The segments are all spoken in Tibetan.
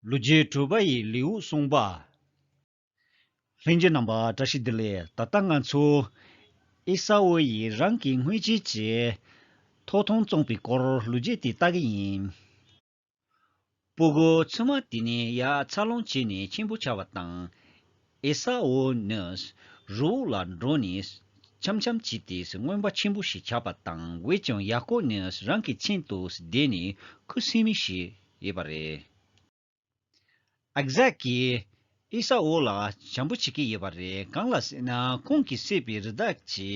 ལུ་རྒྱའི་སྤྲུལ་པ་ཡི་ལེའུ་གསུངས་པ། ལྷན་སྐྱེས་རྣམ་པ་བཀྲ་ཤིས་བདེ་ལེགས་ད་ལྟ་ང་ཚོ། ཨེ་ས་ཨོ་ཡིས་རང་གི་དངོས་བྱེད་ཀྱི། ཐོག་མཐོང་བཙོངས་པའི་སྐོར་ལུ་རྒྱས་དེ་ལྟ་གི་ཡིན། སྤུ་གུ་ཚུལ་མ་དེ་ནི་ཡ་ཚ་སློང་བྱས་ནས་ཁྱིམ་པོ་བྱ་བ་དང། ཨེ་ས་འོ་ནི། རི་བོ་ལ་འགྲོ་ནས་འཆམ་འཆམ་བྱས་ཏེ་རྔོན་པ་ཆེན་པོ་ཞིག་ཆགས་པ་དང་བས་ཀྱང་ཡ་ཀོ་ནི་རང་གི་མཚན་དུ་བསྡད་ནས་ཁུ་སིམ་མེར་བྱས་ཡོད་པ་རེད། ཨག་ཟག་གིས་ཨེ་ས་འོ་ལ་བྱམས་པོ་བྱེད་ཀྱི་ཡོད་པ་རེད་གང་ལ་ཟེར་ན་ཁོང་གིས་བསད་པའི་རི་དྭགས་ཀྱི་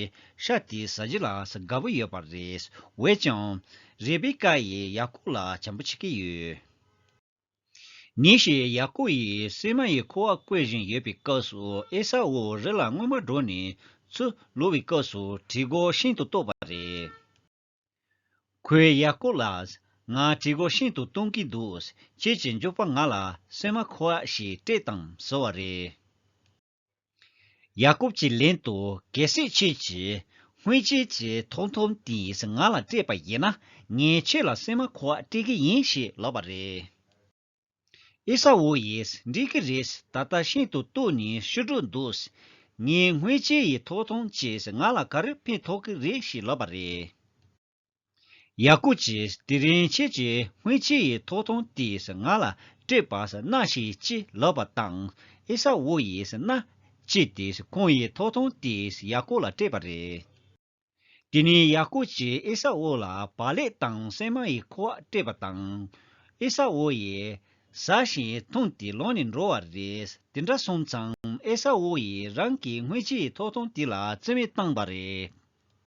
ཤ་དེ་ཟ་རྒྱུ་ལ་དགའ་པོ་ཡོད་པ་རེད། བས་ཀྱང། རེ་བེ་ཀ་ཡིས་ཡ་ཀོ་ལ་བྱམས་པོ་བྱེད་ཀྱི་ཡོད། ཉིན་ཞིག་ཡ་ཀོབ་ཡིས་སིལ་མ་ཡི་ཁུ་བ་བརྐོས་བཞིན་ཡོད་པའི་སྐབས་སུ་ཨེ་ས་ཨུའི་རི་ལ་སྔོན་མ་འགྲོ་ནས་ཚུར་ལུས་པའི་སྐབས་སུ་གྲི་རྒོད་ཤིན་ཏུ་སྟོབས་པ་རེད། ཁོས་ཡ་ཀོབ་ལ། ང་གྲི་རྒོད་ཤིན་ཏུ་སྟོན་གྱི་འདུག་ཁྱེད་ཀྱིས་མཇུག་པ་ང་ལ་སིལ་མ་ཁུ་བ་ཞིག་སྤྲད་དང་ཟེར་བ་རེད། ཡ་ཀོབ་ཀྱི་ལན་དུ་གལ་སྲིད་ཁྱོད་ཀྱིས་སྔོན་ཆད་ཀྱི་ཐོག་ཐོམ་དེས་ང་ལ་སྤྲད་པ་ཡིན་ན་ངས་ཁྱོད་ལ་སྲན་མ་ཁོ་བ་སྤྲད་ཀྱི་ཡིན་ཞེས་ལབ་པ་རེད། ཨེ་ས་འུ་ཡིས་འགྲིག་གི་རེད་ད་ལྟ་ཤིན་ཏུ་སྟུག་ནས་ཤི་འགྲོ་འདུག་ངའི་སྔོན་ཆད་ཡི་ཐོག་ཐོམ་ཁྱོས་ང་ལ་ག་རེ་ཕན་ཐོགས་ཀྱི་རེད་ཞེས་ལབ་པ་རེད། ཡག་པོ་བྱས་དེ་རིང་ཁྱེད་ཀྱི་སྔོན་ཆད་ཡི་ཐོག་ཐོང་དེས་ང་ལ་སྤྲད་པ་སྣ་ཞིག་ཅི་ལབ་པ་དང་ཨེ་ས་བོ་ཡི་སྣ་གཅིག་དེས་ཁོང་ཡི་ཐོག་ཐོང་དེས་ཡག་པོ་ལ་སྤྲད་པ་རེད་དེ་ནས་ཡག་པོ་བྱས་ཨེ་ས་བོ་ལ་བ་ལེགས་དང་སྲན་མ་ཡི་ཁོག་སྤྲད་པ་དང་ཨེ་ས་བོ་ཡི་ཟ་ཞིང་འཐུང་དེ་ལོང་ནས་འགྲོ་བ་རེད་དེ་འདྲ་སོང་ཙང་ཨེ་ས་བོ་ཡི་རང་གི་སྔོན་ཆད་ཡི་ཐོག་ཐོང་དེ་ལ་བརྩི་མེད་བཏང་པ་རེད།